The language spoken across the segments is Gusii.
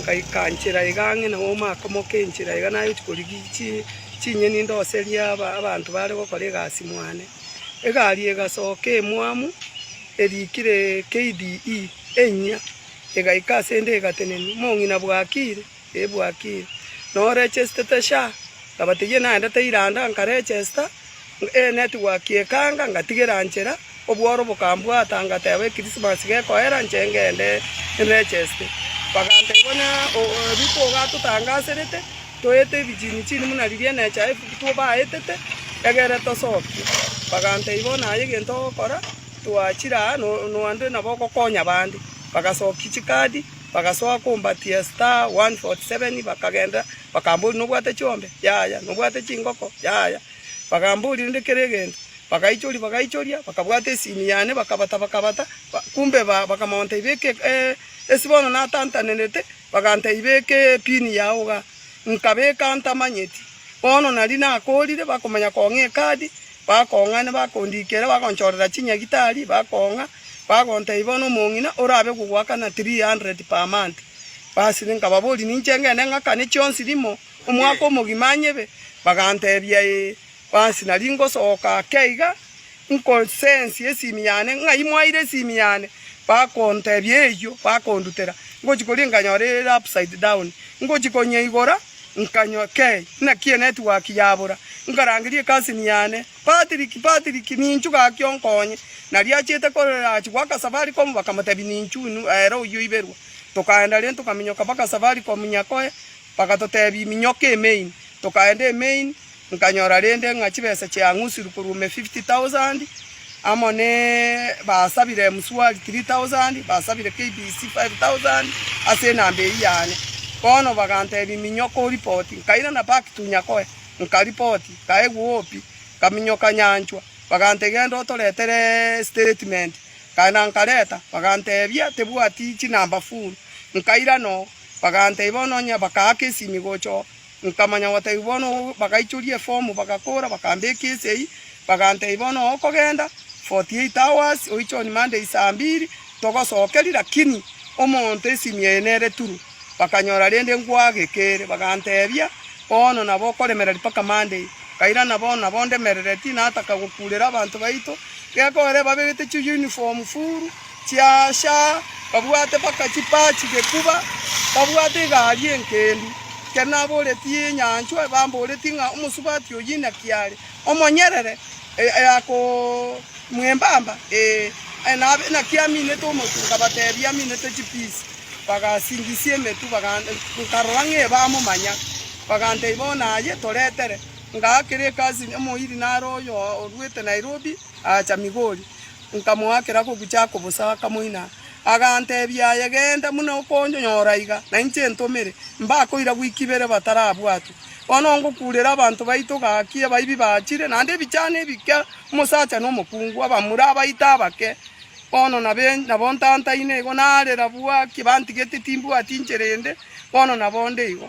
Ngaika nchera iga ang'e na omaka omoke enchera iga nayochia korigia chinyeni ndoserie abanto bare gokora egasi mwane. Egari egasoka emwamu erikire KDE enyia egaika asende egatenenia, mong'ina bwakire? Ee bwakire. Noregestete SHA? Ngabatebigia naende teiranda nkaregesta. Ee, network ekanga ngatigera nchera, obworo bokambwata ngateeba ekirisimasi gekoera nche ngende nregeste. Baganteba onye riko ogatotangaserete toete ebichini chini buna riria NHIF tobaetete egere tosokie. Bagantebia bono aye egento ogokora twachire aa nonde nabo ogokonya bande. Bagasokia chikadi bagasoa kombatia star one forty seven bakagenderera. Bakamboria, Nobwate chiombe? Yaya. Nobwate chingoko? Yaya. Bakamboria rende kera egento. Bagaichoria, bagaichoria, bakabwata esini yane, bakabata, bakabata, kumbe ba, bakamonta ibeke eh, esi bono natantanerete, baganta ibeke epini yao iga, nkabeka ntamanyeti. Bono nari nakorire, bakomanya kong'a ekadi. Bakoong'a na bakondikera, bagonchorera chinyagitari, bakoong'a, bagontebia, Bono omong'ina orabe gogoakana three hundred per month. Basire, nkababoria, Ninche ngende ng'akane chionsi rimo, omwaka omogima anyebe? Bagantebia, Ee. Basi nari ngosoka ake iga, nkosensie esimi yane, ng'ai mwaire esimi yane? Bakontebia, Eyio. Bakondutera, ngochia koria nkanyora ere upside down, ngochia konyeigora, Nkanywa kei, naki enetiwaki yabora. Nkarangeria ekasini yane, Patrick, Patrick, ninchu gaki onkonye. Nario achiete korera achi goaka Safaricom bakamotebia ninchu inwe ere oyio oiberwa. Tokaenda rende tokaminyoka mpaka Safaricom nyakoe, bagatotebia minyoka e main. Tokaenda e main, Nkanyora rende ng'a chibesa chiang'usirwe korwa ime fifty thousand, amo ne basabire emswari three thousand, basabire KBC five thousand ase enamba eyio yane. Bono bagantebia, Minyoka oripoti. Nkairana back to Nyakoe, nkaripoti, nkaegwa obi, nkaminyoka nyanchwa. Bagantebia, Genda otoretere statement. Nkagenda nkareta, bagantebia, Tebwati chinamba full. Nkairana oo, bagantebia, Bono onye bakaaka esimi gocha oo. Nkamanya gotebia bono oo, bagaichoria efomu, bagakoora, bakambeka ense eyio, bagantebia bono oo okogenda 48 hours, oiche on Monday saa mbiri, togosokeria, lakini omonto esimu eye nere turu. Bakanyora rende ngwagekeire, bagantebia bono nabo okoremereri mpaka Monday. Nkairana bono nabo ndemerereti, nataka gokuurera abanto baito, gekoera baberete chiuniform furu. Chiacha, babwate mpaka chipaa chigekuba, babwate egari enkendu. Ekero naboretie enyanchwa, bamboretie ng'a omosubati oyio inaki are omonyerere mwembamba, ee, naki aminete omotu. Nkabatebia, Aminete chipisi. Bagasingisia emetwe, nkarora ng'a ebamomanya. Bagantebia, Bono aye toretere. Ngaakera ekasi, omoiri naro oyo orwete Nairobi, aacha Migori. Nkamoakera kobucha ako bosa, akamoina. Aganteebia, Aye genda buna okonyora iga, nainche ntomere, mbakoira gwika ibere batarabwatwe. Bono ngokuurera abanto baito gaki, abaibi bachire, naende ebichano ebike, omosacha na omokungu, abamura, abaito abake. Bono nabe nabo ntantaine igo, narera bwaki, bantigete timbwati inchera ende, bono nabo nde igo.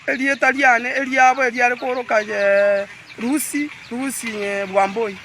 Erieta riane eriabo eriare kooroka Lusi, Lusi Bwamboi,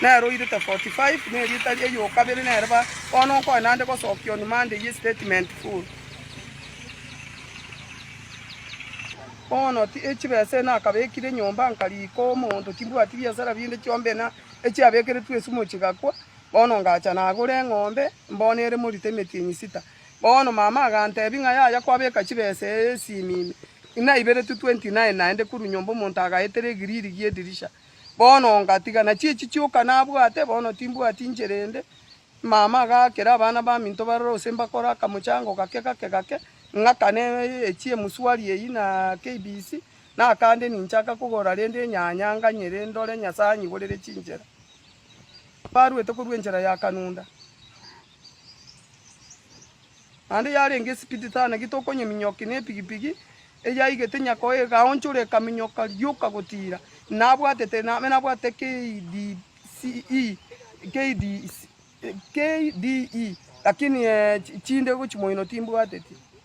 nere oirete 45, na erieta eyokabere nere ba. Bono nkoe naende gosokia on Monday ye statement full. Bono ti echibesa ena akabekire nyomba nkariika omonto timbwati biasara binde chiombe ena echiabekeretwe esumu chigakwa. Bono ngacha nagora eng'ombe mbono ere morito emetienyi sita. Bono mama agantebia ng'a yaya kwabeka chibesa esimimi inaiberetwe twenty nine naende korwa nyomba omonto agaetera egiriri gi'edirisha. Bono ongatiga nachio echi chioka nabwate, bono timbwati inchera ende. Mama agaakera abana baminto barore gose mbakore akamochango gake gake gake, ng'akane echi emswari eyio na KBC, nakande ninchaka kogora rende enyanya nganyere ndore Nyasae anyiborere chinchera. Barwete korwa enchera ya Kanunda. Naende yarenge esipiti tana ki tokonyeminyokia nepigipigi eyaigete nyakao egaonchora ekaminyoka rioka gotiira inabwatete nabe nabwate KDCE lakini chinde gochia moino timbwateti.